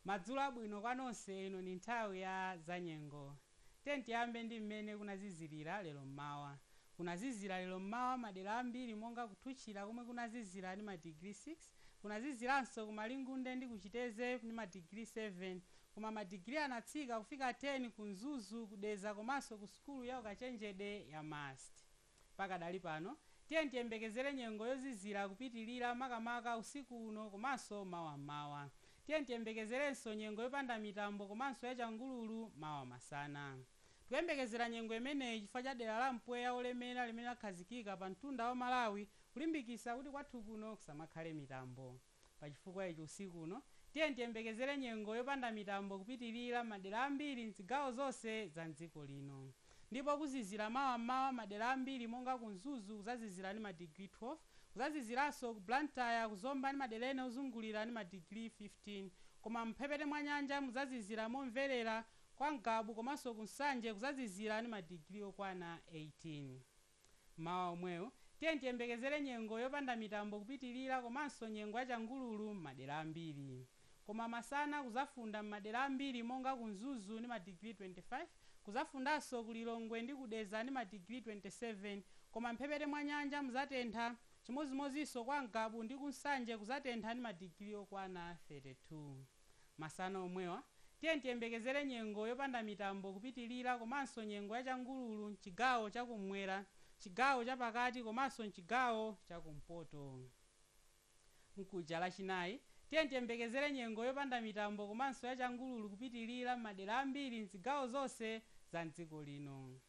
Madzulo abwino kwa nonse, ino ndi nthawi ya zanyengo. Tiyeni tiyambe ndi mmene kunazizilila lero mmawa. Kunazizila lero mmawa madera ambiri monga ku Thuchila komwe kunazizira ndi ma digiri 6, kunazizilanso ku Malingunde ndi ku Chitedze ndi ma digiri 7 koma ma digiri anatsika kufika 10 ku Mzuzu, ku Dedza komanso ku sukulu ya ukachenjede ya MUST. Pakadali pano, tiyeni tiyembekezere nyengo yozizira kupitilira makamaka usiku uno komanso mawa m'mawa. Tiyeni tiyembekezerenso nyengo yopanda mitambo komanso yachangululu mawa masana. Tikuyembekezera nyengo imeneyi chifukwa cha dera la mpweya wolemera limene lakhazikika pa mtunda wa Malawi kulimbikitsa kuti kwathu kuno kusamakhale mitambo. Pa chifukwa ichi usiku uno, tiyeni tiyembekezere nyengo yopanda mitambo kupitilira m'madera ambiri m'zigawo zonse za m'dziko lino. Ndipo kuzizira mawa m'mawa madera ambiri monga ku Mzuzu kuzazizira ndi ma digiri 12, kuzaziziranso ku Blantyre, ku Zomba ndi madera ena ozungulira ndi ma digiri 15. Koma m'mphepete mwa nyanja muzazizira momverera, kwa Ngabu komanso ku Nsanje kuzazizira ndi ma digiri okwana 18. Mawa omwewu, tiyeni tiyembekezere nyengo yopanda mitambo kupitilira komanso nyengo ya changululu mmadera ambiri. Koma masana kuzafunda mmadera ambiri monga ku Mzuzu ndi ma digiri 25, kuzafundanso ku Lilongwe ndi ku Dedza ndi ma digiri 27 koma mmphepete mwa nyanja muzatentha, chimodzimodzinso kwa Ngabu ndi ku Nsanje kuzatentha ndi ma digiri okwana 32. Masana omwewa, tiyeni tiyembekezere nyengo yopanda mitambo kupitilira komanso nyengo ya changululu m'chigawo cha kummwera, chigawo cha pakati komanso m'chigawo cha kumpoto. Mkuja, Lachinayi, tiyeni tiyembekezere nyengo yopanda mitambo komanso ya changululu kupitilira m'madera ambiri m'zigawo zonse za m'dziko lino.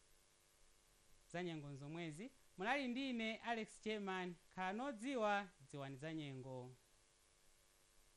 Zanyengo nzomwezi. Munali ndi ine, Alex German. Khalani odziwa, dziwani zanyengo.